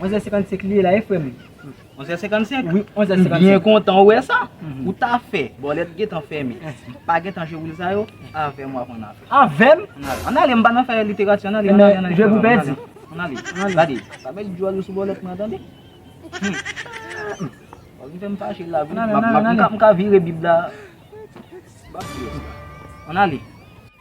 11h55 li ye la wi frem. 11h55? Wi 11h55. M byen kontan ou wè sa. Ou ta fè bòlèt gentan fèmen. Pa gentan jwe woul sa yo. Avèm wap ann ale. Avèm? Ann ale m pa nan fè literati ann ale. Nan jwe pou pèdi. Ann ale. Gade. Pa met djòl ou sou bòlèt mwen an tande. Wap vin fèm fache la wi. M ka vire bib la. Ann ale.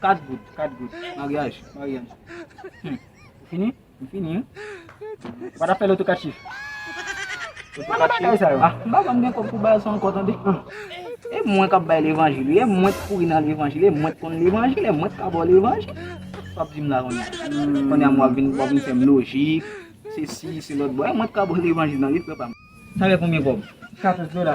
4 goud, 4 goud, maryaj, maryaj. Hum, ou fini? M fini wi. Ou pa ta fè loto 4 chif? Loto 4 chif? Bagay sa yo. Ah, m pa janm gen kòb pou bay sa ankò tande. E mwen k ap bay levanjil wi, e mwen k kouri nan levanjil, e mwen k konn levanjil, e mwen k ka ba w levanjil. Sa w ap di m la konnye a? Konnye a m w ap vin, w ap vin fè m lojik, se si, se lòt. Bon, e mwen k ka ba w levanjil nan wi frè pa m. Sa fè konbyen kòb? 14 dola.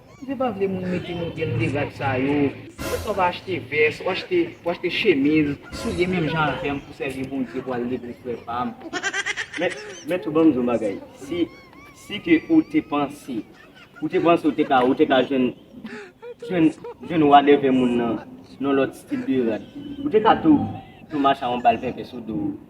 Si se pa vle moun mete nou gen degad sa yo, poukisa w pa achte vès, ou achte, ou achte chemiz, soulye menm jan avè m pou sèvi Bondye pou al legliz frè pa m. Men, men tou ban m di w yon bagay, si, si ke ou te panse, ou te panse ou te ka, ou te ka jwenn, jwenn, jwenn wadèvè moun nan, nan lòt stil de rad, ou te ka tou, tou mache a yon bal pèpè sou do w.